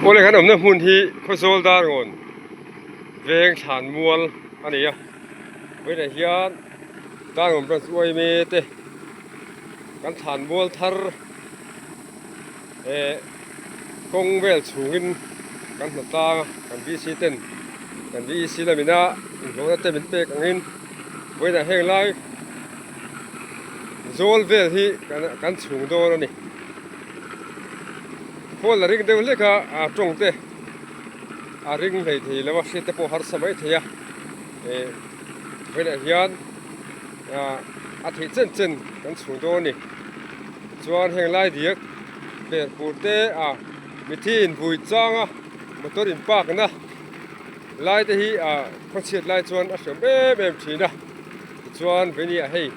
Aw le kan awmna hmun hi khaw zawl dar ngawn veng thlan mual a ni a tunah hian dar ngawn branch uaime te kan thlan mual thar eh kawng vel chhungin kan hmu tlang a kan BC ten kan BEC lamina inhlawhna te min pek angin tunah heng lai zawl vel hi kan chhung dawn a ni. Paul a ring deuh hlek a, aa tawng teh. A ring hlei thei lo a, hriat te pawh harsa mai thei a. Eh, vawilah hian a thih chen chen kan chhung dawn a ni. Chuan heng lai diak ber pur te a, mithi in vui chang a, motor in park na lai te hi a khawchhiat lai chuan a hriam em em thin a. Tichuan vei ni ah hei.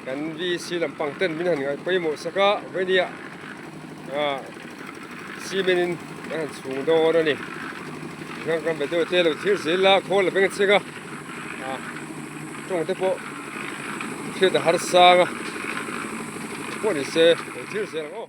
Kan VC lampang ten min han ngai pawimawh sak a, vawinia cement in kan han chhung dawn a ni. Kan kan bedeuh te lo thlir zel la, khawl a veng a cheng a, tawng te pawh hriat a har sang a, pawh ni se lo thlir zel ang aw.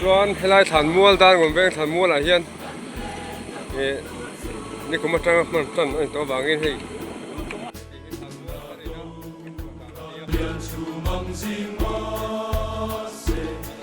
chuan helai thlan mual dan awm veng thlan mual ah hian eh nikum atanga hman tan a intuam avangin hei --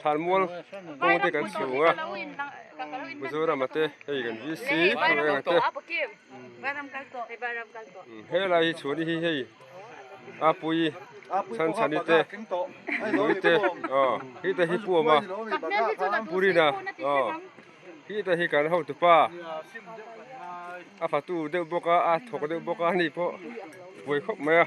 Thlanmual kawng te kan chhung a, Mizoram a te hei kan VC hnu eng a te, helai hi chhuahna hi hei Apui Chanchani te Lui te aw hi te hi Puama Purina aw hi te hi kan hotu pa a fatu deuh bawk a a thawk deuh bawk a ni pawh buai khawp mai a.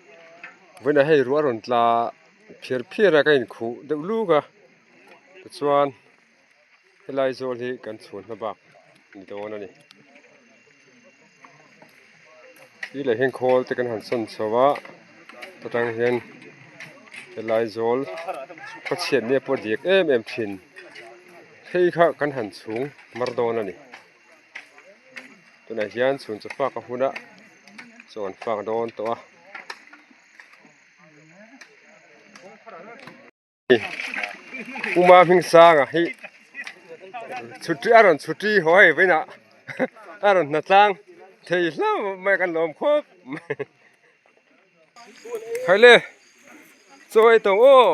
Vawiinah hei ruah a rawn tla a, phiar phiar a ka inkhuh deuh luk a, tichuan helai zawl hi kan chhuan hma bak ni dawn a ni, i leh hian khawl te kan han sawn chho a, he tan hian helai zawl khaw chhiat ni a pawh a dik em em thin phei kha kan han chhung hmar dawn a ni. tunah hian chhun chi faka hun a chaw an fak dawn tawh a puma hming sanga hi chhuti a rawn chhuti haw a vawin a a rawn hna tlang thei hlau mai a kan lawm khawp mai haile chawi tawh aw.